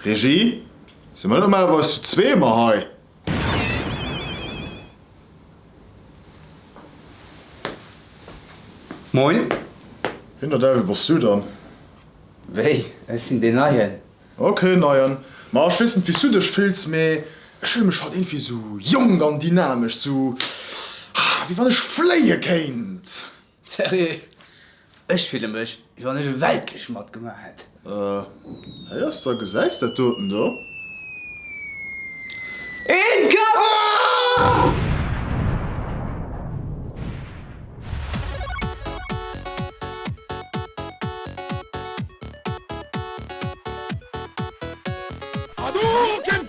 Regie, si mer normalerweis zu zwee ëmmer hei? Moin. Wien der Däiwel bass du dann? Wéi, ech sinn deen Neien. Ok, Neien. Ma ech weess net wéi s du dech fills, mee ech fille mech halt iergendwéi sou jonk an dynamesch, sou wéi wann ech fléie kéint. Serieux? Ech fille mech wéi wann ech e Weltkrich matgemaach hätt. Hei ass da, gesäis dat doten do? Een Kapp! Hadouken!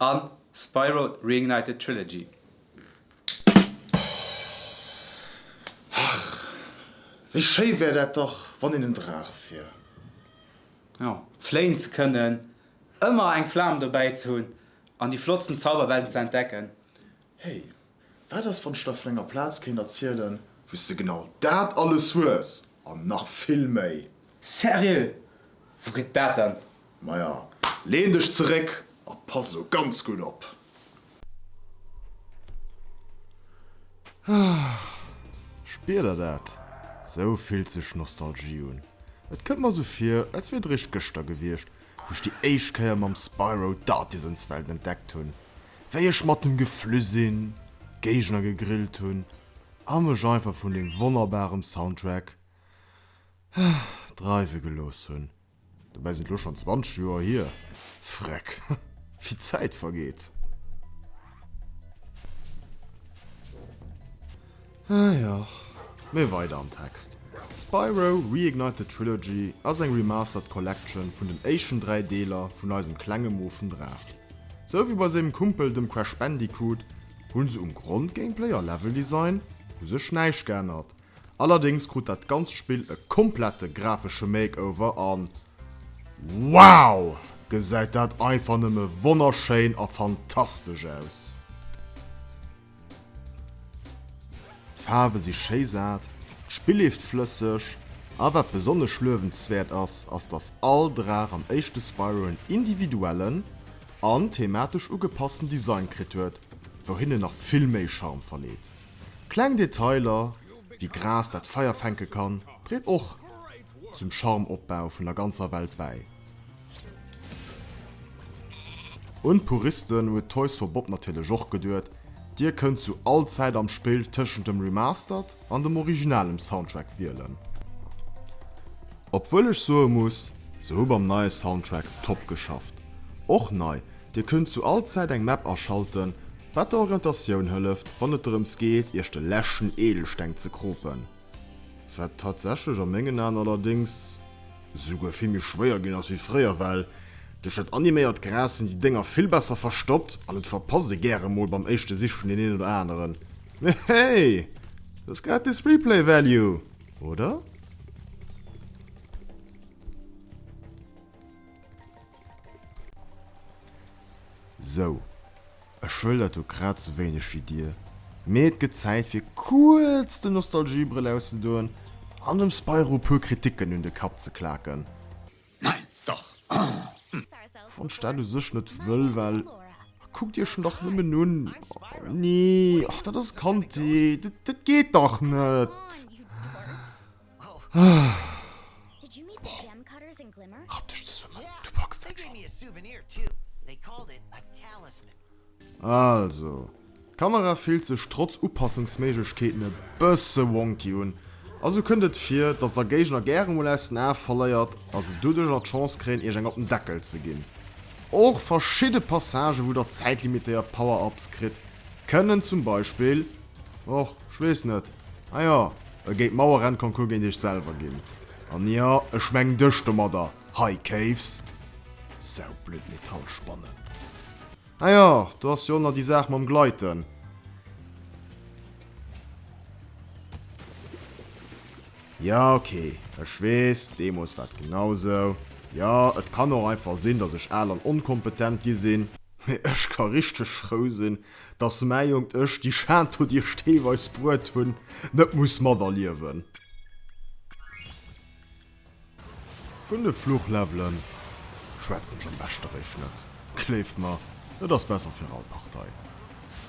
a Spyro Reignited Trilogy. Ach, wéi schéi wär dat dach, wann een en Draach wier! Jo, fléien ze kënnen, ëmmer eng Flam dobäi ze hunn an déi flottsten Zauberwelten ze entdecken. Hey, Wat ass wann ech der vun enger Plaz kéint erzielen, wou's de genau dat alles hues an nach vill méi? Seriö? Wou gëtt dat dann? Maja, leen dech zeréck a pass elo ganz gutt op. Spier der dat? Sou fillt sech Nostalgie un. Et kënnt mer sou vir, als wier et réischt gëschter gewiescht, wou ech déi éischt Kéier mam Spyro d'Artisans-Welt entdeckt hunn. wéi ech matten geflü sin, d'Géigner gegrillt hun a mech einfach vun dem wonnerbarem Soundtrack dreiwe gelooss hun. Dobäi sin et lo schon 20 Joer hier, Vreck, wéi d'Zäit vergeet. Ah jo. Mee weider am Text. Spyro, Reignited Trilogy ass eng Remastered Collection vun den éischten 3 Deeler vun eisem klenge moofen Draach. Sou wéi bei sengem Kumpel dem Crash Bandicoot, hunn se um Grondgameplay a Leveldesign u sech näischt geännert. Allerdéngs krut dat ganzt Spill e komplette grafesche Makeover an wow! Gesäit dat einfach nëmme wonnerschéin a fantastesch aus. D'Faarwe si schéi sat, d'Spill leeft flësseg, a wat besonnesch luewenswäert ass, ass dass all Draach am éischte Spyro en individuellen an thematesch ugepassten Design kritt huet, wou hien en nach vill méi Charme verleet. Kleng Detailer wéi Gras dat Feier fänke kann, dréit och zum Charmopbau vun der ganzer Welt bäi. Un d'Puristen huet Toys for Bob natierlech och geduet, Dir kënnt zu all Zäit am Spill tëschent dem Remastered an dem originalem Soundtrack wielen. Obwuel ech soe muss, se hu beim neie Soundtrack top geschafft. Och nei, Dir kënnt zu all Zäit eng Map aschalten, wat der Orientatioun hëlleft, wann et drëms geet, Iech de leschten Edelsteng ze kropen. Wat tatsächlech a mengen Aen allerdéngs souguer vill méi schwéier ginn ass wéi fréier, well duerch dat animéiert Gras sinn déi Dénger vill besser verstoppt an et verpasst ee gäre mol beim éischte Sichen deen een oder aneren. Mee hey! Et ass gratis Replay Value, oder? Sou, ech wëll dat do grad sou wéineg wéi dir, mee et gëtt Zäit fir kuerz den Nostalgiebrëll auszedoen an dem Spyro puer Kriticken un de Kapp ze klaken. Nein, dach! Wann ech dat u sech net wëll, well kuckt iech en dach nëmmen un. Nee, och dat ass Kandheet, dat geet dach net! Rapp dech zesummen, du packs dat schonn. Also, d'Kamera fillt sech trotz Upassungsméiglechkeeten e bësse wonky un a sou kënnt et vir, dass der Géigner gäre mol aus den Ae verléiert a se doduercher d'Chance kréien, iech eng op den Deckel ze ginn. Och verschidde Passagen, wou der zäitlimitéiert Power-Ups kritt, kënnen zum Beispill, och, ech weess net, ah jo, E géint Mauerrennconcours géint iech selwer ginn, an jo, ech mengen dech domadder, High Caves. Saublöd Metallspannen. Ah jo, do ass jo och nach déi Saach mam Gleiten. Jo, ok, ech weess, deemools war et genau sou. Jo, et kann och einfach sinn, dass ech al an onkompetent gi sinn. Mee ech ka richteg frou sinn, Dass mäi Jonkt ech, déi Schaan do, déi ech deelweis bruet hunn, net muss materliewen. Vun de Fluchlevelen schwätzen ech am beschteréischt net. Gleeft mer, et ass besser fir all Partei.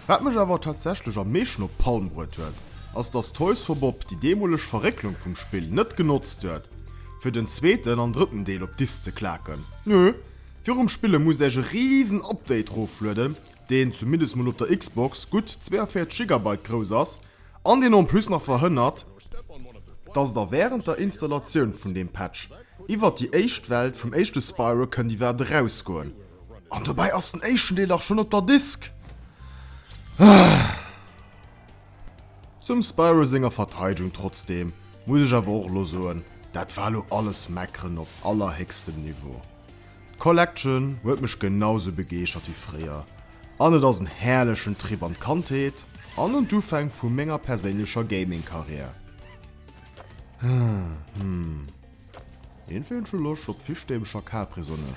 Wat mech awer tatsächlech am meeschten op d'Palm bruet huet, ass dass Toys for Bob déi deemoleg Verrécklung vum Spill net genotzt huet, fir den zweeten an drëtten Deel op d'Disk ze klaken. Nö, virum Spille muss ech e riesen Update roflueden, deen zumindest mol op der Xbox gutt 42 Gigabyte grouss ass an deen en plus nach verhënnert, dass et der wärend der Installatioun vun deem Patch iwwert déi éischt Welt vum éischte Spyro kënnt iwwert erausgoen. An dobäi ass den éischten Deel dach schonn op der Disk! Zum Spyro senger Verteidegung trotzdeem muss ech awer och elo soen, dat war elo alles Meckeren op allerhéchstem Niveau. D'Collection huet mech genau sou begeeschert wéi fréier an et ass en herrlechen Trip an d'Kandheet an un d'Ufäng vu menger perséinlecher Gaming Karriär. Hum, een feelt scho Loscht op Fischstäbelcher Capri-Sonne.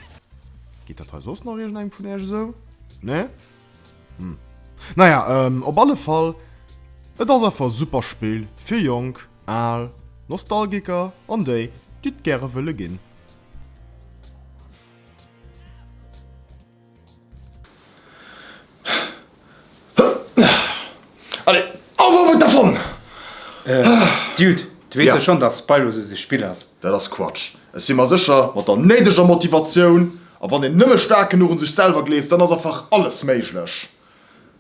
Geet dat hei soss nach iergendengem vun iech esou? Nee? Hum. Naja, op alle Fall, et ass einfach e super Spill fir Jonk, Al, Nostalgiker an déi, déi et gäre wëlle ginn. Allez, auf auf et davon! Dude, du weess jo schonn, dass Spyro sou sech Spill ass. Dat ass Quatsch. Ech si mer sécher, mat der néideger Motivatioun a wann een nëmme staark genuch un sech selwer gleeft, dann ass einfach alles méiglech.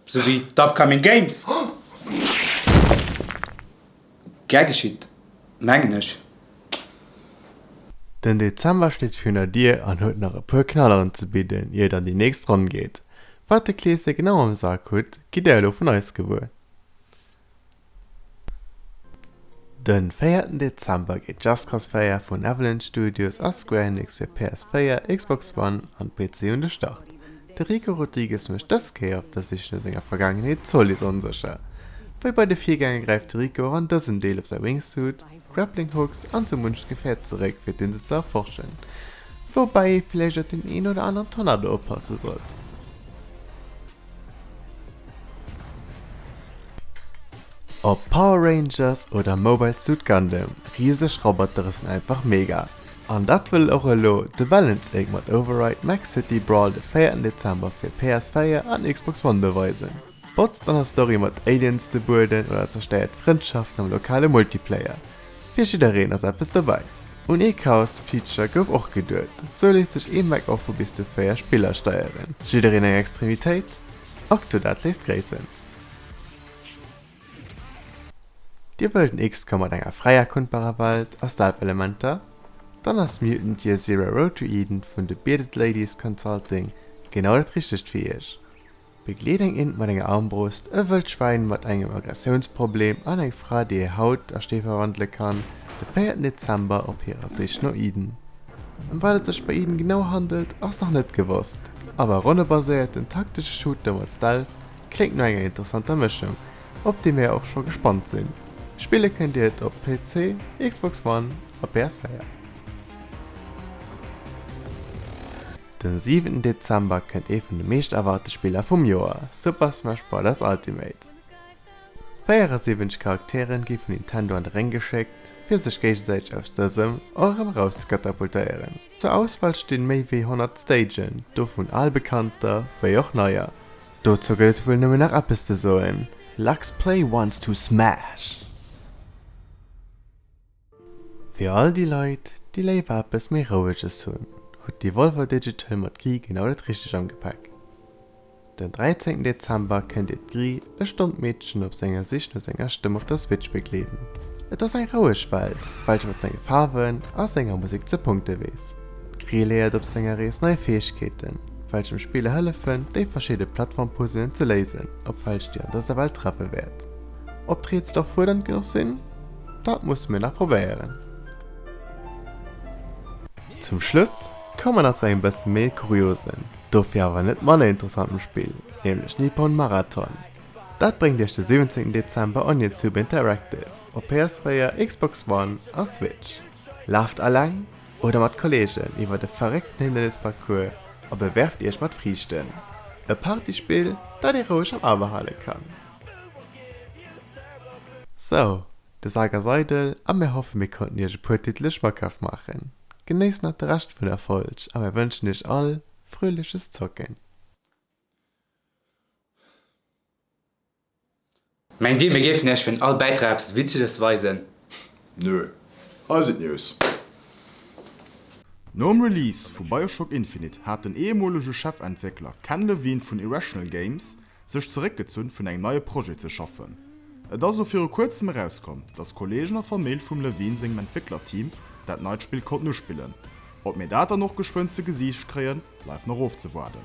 Sou wéi d'Upcoming Games. Gär geschitt, mengen ech. Den Dezember steet virun der Dier an huet nach e puer Knalleren ze bidden, ier et an déi nächst Ronn geet. Wat de Kleesche genau am Sak hutt, gitt Dir elo vun eis gewuer. De véierten Dezember geet d'Jazzcross-Feier vun Avalanche Studios a Square Enix fir PS4, Xbox One an PC un de Start. De Rico Rodrigues mécht dës Kéier op der Sich no senger Vergaangenheet d'Zoliz onsécher. Wéi bei de Virgänger gräift de Rico och an dësem Deel op säi Wingsuit, Grappling Hooks an sou muncht Gefäert zeréck fir d'Insel ze erforschen. Woubäi ee villäicht op deen een oder aneren Tornado oppasse sollt. Ob Power Rangers oder Mobile Suit Gundam, riseg Robotere sinn einfach mega. An dat wëll och elo de Balancing mat Override Max City Brawl de véierten Dezember fir PS4 an Xbox One beweisen. Botzt an der Story mat Aliens de Bueden oder zerstéiert Frëndschaften am lokale Multiplayer, fir jiddereen ass eppes dobäi. Un ee Chaos Feature gouf och geduet, sou léisst sech ee Mac och vu bis zu 4 Spiller steieren. Jiddereen eng Extremitéit? Octodad léisst gréissen. Dir wëllt en XCOM mat enger fräi erkundbarer Welt a Stealth-Elementer? Dann ass Mutant Year Zero: Road to Eden vun The Bearded Ladies Consulting genau dat Richtegt fir Iech. Begleet eng Int mat enger Armbrust, e wëllt Schwäin mat engem Aggressiounsproblem an eng Fra, déi hir Haut a Stee verwandele kann, de véierten Dezember op hirer Sich no Eden. Ëm wat et sech bei Eden genau handelt, ass nach net gewosst, awer e ronnebaséierten, taktesche Shooter mat Stealth, Kléngt no enger interessanter Mëschung, op déi mir och scho gespannt sinn. Spille kënnt dir et op PC, Xbox One a PS4. Den siwenten Dezember kënnt ee vun de meescht erwaarte Spiller vum Joer, Super Smash Brothers Ultimate. 74 Charakteren gi vun Nintendo an de Réng geschéckt, fir sech géigesäiteg aus dësem och erëm erauszekatapultéieren. Zur Auswahl stinn méi wéi 100 Stagen, dovun albekannter wéi och neier. Dozou gëtt et wuel nëmmen nach eppes ze soen, Lux Play wants to smash! Fir all déi Leit, déi léiwer eppes méi Roueges hunn, huet Devolver Digital mat Ky genau dat Richteg am Gepäck. Den 13 Dezember kënnt Dir d'Grille E Stonn Meedchen op senger Sich no senger Stëmm op der Switch begleeden. Et ass eng roueg Welt, welche mat senge Faarwen a senger Musek ze punkte weess. D'Grille léiert op senger Rees nei Fäegkeeten, welch dem Spiller hëllefen, déi verschidde Plattform-Puzzelen ze léisen, op welch Dir an dëser Welt treffe wäert. Ob d'Rätsel och fuerdernd genuch sinn? Dat musse mir nach probéieren. Zum Schluss komme mer nach zu engem bësse méi kuriosen Dofir awer net manner interessant um Spill, nämlech Nippon Marathon. Dat bréngt iech de 17 Dezember Onitsup Interactive op PS4, Xbox One a Switch. Laaft aleng oder mat Kollegen iwwer de verréckten Hindernisparcours a bewerft iech mat Friichten. E Partyspill, dat ee roueg am A behale kann. Sou, de Sak ass eidel a mir hoffen mir konnten iech e puer Titele schmackhaft maachen. Genéisst nach de Rescht vun der Folg a mir wënschen iech all fröhliches Zocken! Mengt Dir, mir géifen Iech fir all Bäitrag eppes Witzeges weisen? Nö. Hei sinn d'News. Nom Release vu Bioshock Infinite hat den eemolege Chefentwéckler Ken Levine vun Irrational Games sech zeréckgezunn vun engem neie Projet ze schaffen. Et ass elo viru kuerzem erauskomm, datt Kollegen a Famill vum Levine sengem Entwécklerteam dat neit Spill konnten uspillen. Ob mir dat dann och geschwënn ze Gesiicht kréien, bleift nach ofzewaarden.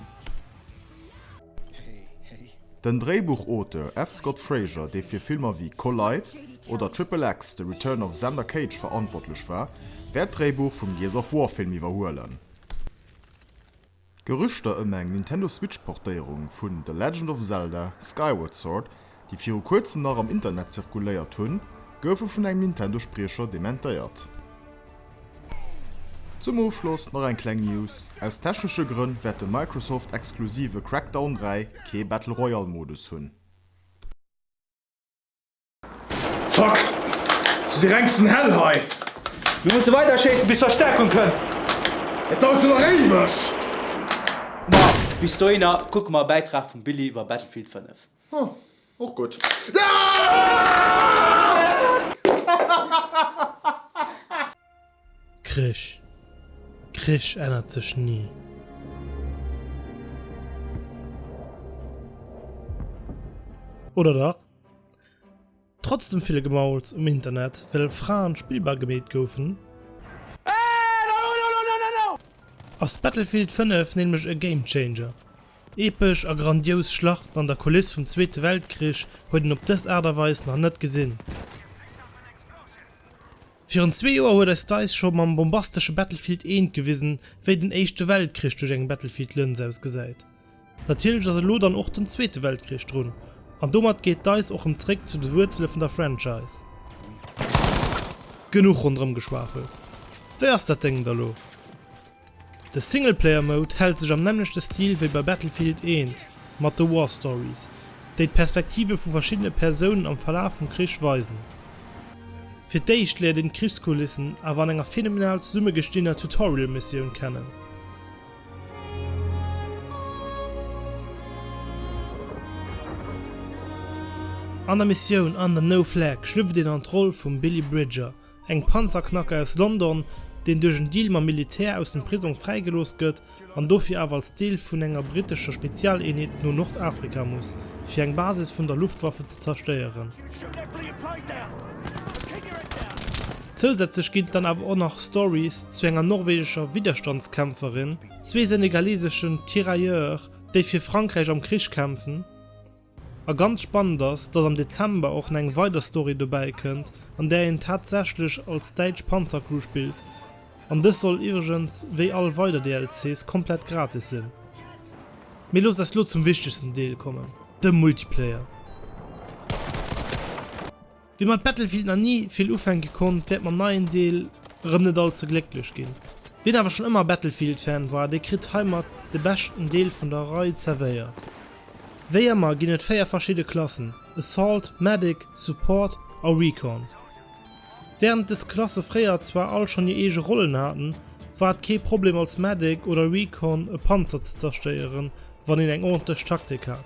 Den Dréibuchauteur F. Scott Fraser, dee fir Filmer wéi Collide oder Triple X, The Return of Xander Cage verantwortlech war, wäert d'Dréibuch vum Gears of War-Film iwwerhuelen. D'Gerüchter ëm eng Nintendo Switch Portéierung vun The Legend of Zelda, Skyward Sword, déi viru kuerzem nach am Internet zirkuléiert hunn, goufe vun engem Nintendo Spriecher dementéiert. Zum Ofschloss nach eng kleng News, aus technesche Grënn wäert de Microsoft exklusive Crackdown 3 kee Battle Royale Modus hunn. Fuck! Ass jo déi rengsten Hell hei! Mir musse weider schéissen, bis Verstäerkung kënnt! Et dauert jo nach éiweg! Ma, bis dohinner kucke mer e Bäitrag vum Billy iwwer Battlefield 5. Hm, och gutt. Krich, Krich ännert sech nie! Oder dach? Trotz dem ville Gemauls um Internet, well Fraen spillbar gemeet goufen, ass Battlefield 5 nämlech e Game Changer. Epesch a grandious Schlachten an der Kuliss vum Zweete Weltkrich huet een op dës Aart a Weis nach net gesinn. Virun zwee Joer huet eis Dice scho mam bombastesche Battlefield 1 gewisen, wéi den Éischte Weltkrich duerch eng Battlefield Lëns ausgesäit. Natierlech ass elo dann och den Zweete Weltkrich drun, an domat geet d'Eis och rëm zréck zu de Wuerzele vun der Franchise. Genuch ronderëm geschwafelt, wéi ass dat Déngen da lo? De Singleplayer-Mode hält sech am nämmlechte Stil wéi bei Battlefield 1 mat de War Stories, déi d'Perspektive vu verschiddene Persounen am Verlaf vum Krich weisen. Fir d'éischt léiert een d'Krichskulissen awer an enger phänomenal zesummegestinner Tutorial-Missioun kennen. An der Missioun Under No Flag schlüpft een an d'Roll vum Billy Bridger, engem Panzerknacker aus London, deen duerch en Deal mam Militär aus dem Prisong fräigelooss gëtt an dofir awer als Deel vun enger brittescher Spezialeenheet no Nordafrika muss, fir eng Basis vun der Luftwaffe ze zerstéieren. Zousätzlech ginn dann awer och nach Stories zu enger norwegescher Widderstandskämpferin, zwee senegaleseschen Tirailleurs, déi fir Frankräich am Krich kämpfen, a ganz spannend ass, dass am Dezember och na eng weider Story dobäi kënnt, an där een tatsächlech als däitsch Panzercrew spillt, an dës soll iwwregens wéi all weider DLCs komplett gratis sinn. Mee loosst eis lo zum wichtegsten Deel kommen, dem Multiplayer. Wie mat Battlefield nach ni vill ufänke konnt, wäert mam neien Deel erëm net all ze glécklech ginn. Wien awer schonn ëmmer Battlefield-Fan war, dee kritt heimat de beschten Deel vun der Rei zerwéiert. Wéi ëmmer ginn et véier verschidde Klassen, Assault, Medic, Support a Recon. Wärend des Klasse fréier zwar all schonn hir eege Rollen haten, war et kee Problem als Medic oder Recon e Panzer ze zerstéieren, wann een eng ordentlech Taktik hat.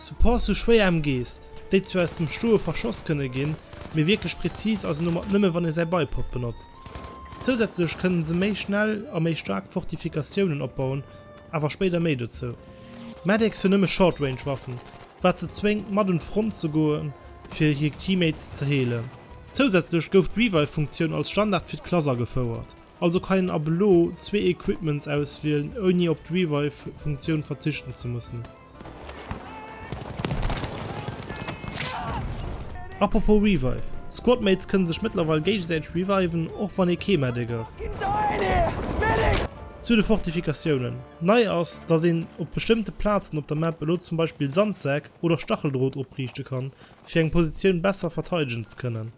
Support sou schwéier em gees, déi zwar aus dem Stoe verschoss kënne ginn, mee wierklech präzis ass en domat nëmmen wann ee säi Bipod benotzt. Zousätzlech kënnen se méi schnell a méi staark Fortifikatiounen opbauen, awer spéider méi dozou. Medics hunn nëmme Short Range Waffen, wat se zwéngt mat un d'Front ze goen fir hir Teammates ze heelen. Zousätzlech gouf d'Revive Funktioun als Standard fir d'Klass agefouert, also kann een ab elo zwee Equipments auswielen ouni op d'Revive Funktioun verzichten ze mussen. Apropos Revive, Squadmates kënne sech mëttlerweil géigesäiteg reviven, och wann ee kee Medic ass. Zu de Fortifikatiounen, Nei ass, dass een op bestëmmte Plazen op der Map elo zum Beispill Sandsäck oder Stacheldrot opriichte kann, fir eng Positioun besser verteidegen ze kënnen.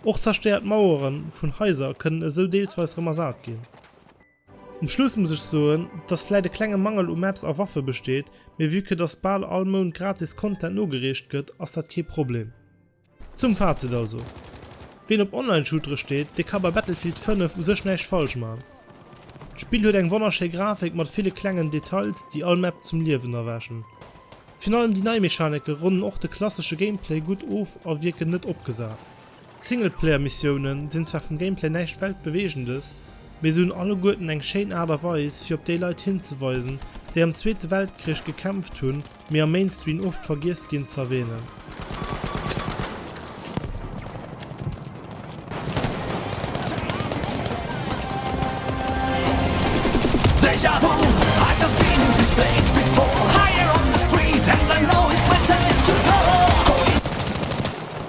Och zerstéiert Mauere vun Haiser kënnen esou deelsweis rëm ersat ginn. Um Schluss muss ech soen, dass vläit e klenge Mangel u Maps a Waffe besteet, mee vue que dass bal all Mount gratis Content nogereecht gëtt, ass dat kee Problem. Zum Fazit also, Ween op Online-Shootere steet, dee ka bei Battlefield 5 u sech näischt falsch man. D'Spill huet eng wonnerschéi Grafik mat ville klengen Details, déi all Map zum Liewen erwächen. Virun allem déi nei Mechanike ronnen och de klassesche Gameplay gutt of a wierken net opgesat. D'Singleplayer-Missiounen sinn zwar vum Gameplay näischt Weltbeweegendes, mee se hunn alleguerten eng schéin Aart a Weis fir op déi Leit hinzeweisen, déi am Zweete Weltkrich gekämpft hunn, mee am Mainstream oft vergiess ginn z'erwähnen.